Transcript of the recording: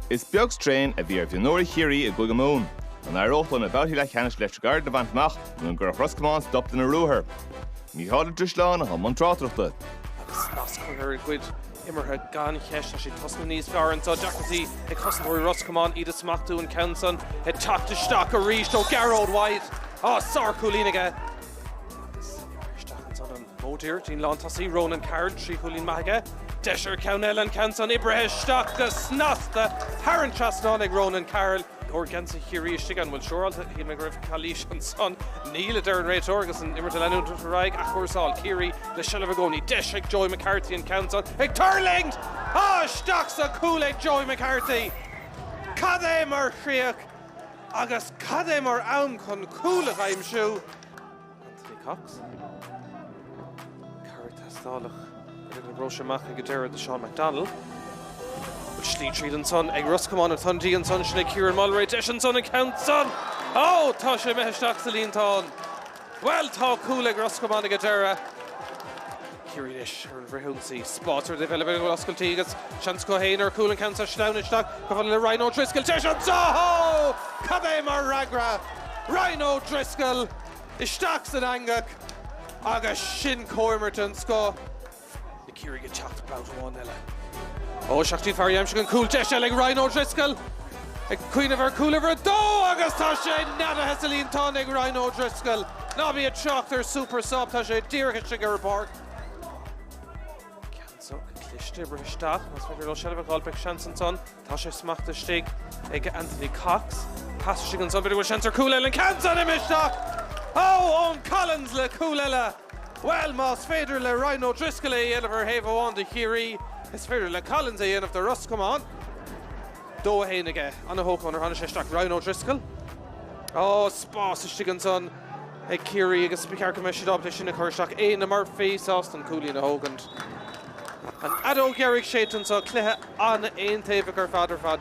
Is beag straidhn a bhí ar mhionúirí Chiarraí i gCúige Mumhan. An éireodh leo na babhtaí leathcheannais Electric Ireland a bhaint amach nó an gcuirfeadh Ros Comáin stop lena ruathar? Mícheál Ó Drisleáin a chuaigh i mbun tráchtaireachta. Agus snas á chur ar a gcuid imeartha gan cheist, tá siad ag tosnú níos fearr and tá deacrachtaí ag cosantóirí Ros Comáin iad a smachtú, an ceann san ag teacht isteach arís ó Gearóid White. Á, sár-chúilín aige! Módhír, Dean lántosaí, Ronan Carroll, trí chúilín maith aige. Deis ar cheann eile, an ceann san oibrithe isteach go snasta, thar an trasnán ag Ronan Carroll. Leor geansaí Chiarraí istigh, an bhfuil saor ann? Shíl mé go raibh calaois ansan. Níl, a deir an réiteoir agus an imirt ag leanúint ar aghaidh, athchúrsáil, Ciarraí le seilbh i gcónaí. Deis ag Joey McCarthy, an ceann san ag tuirlingt! Á, isteach sa chúl ag Joey McCarthy! Cad é mar chríoch agus cad é mar am chun cúl a aimsiú! Anthony Cox, cabhair ag teastáil uaidh, an liathróid sin amach go deireadh do Sean McDonnell. Bhfuil slí tríd ansan ag Ros Comáin, atá an dí ansan sin ag Ciaran Mulry, deis ansan an ceann san! Ó! Tá sé imithe isteach sa líontán! Bhuel, tá cúl ag Ros Comáin go deireadh. Ciarraí anois ar an bhfrithionsaí. Spás tar éis a bheith oscailte agus seans acu féin ar chúl, an ceann san, sleamhnaíonn isteach go fonnmhar le Ryan O'Driscoll. Deis anseo dhó! Cad é mar fhreagra! Ryan O'Driscoll isteach san eangach agus sin comhimirt den scoth. Na Ciarraígh ag teacht babhta amháin eile. Ó, isteach go dtí fear aimsithe an chúil. Deis eile ag Ryan O'Driscoll. Ag cuimhneamh ar chúl uimhir a dó agus tá sé neadaithe sa líontán ag Ryan O'Driscoll. Ná bí ag trácht ar Super Sub, tá sé díreach istigh ar an bpáirc. Ceann sách cliste ag rith isteach, más féidir leo seilbh a dh'fháil beidh seans ansan. Tá sé smachta istigh ag Anthony Cox. Pas istigh ansan, b'fhéidir go bhfuil seans ar chúl eile, an ceann san imithe isteach! Ó, Eoin Collins le cúl eile! Bhuel, más féidir le Ryan O'Driscoll é a dhéanamh ar thaobh amháin do Chiarraí, is féidir le Collins é a dhéanamh do Ros Comáin. dó a haon aige. Ana shócmhainn nuair a tháinig sé isteach. Ryan O'Driscoll? Ó, spás istigh ansan ag Ciarraí agus ba cheart go mbeidh siad ábalta é sin a chur isteach. Éanna Murphy sásta an cúilín a thógaint. An fheadóg dheiridh séidte anso, cluiche an-aontaobhach ar fad ar fad.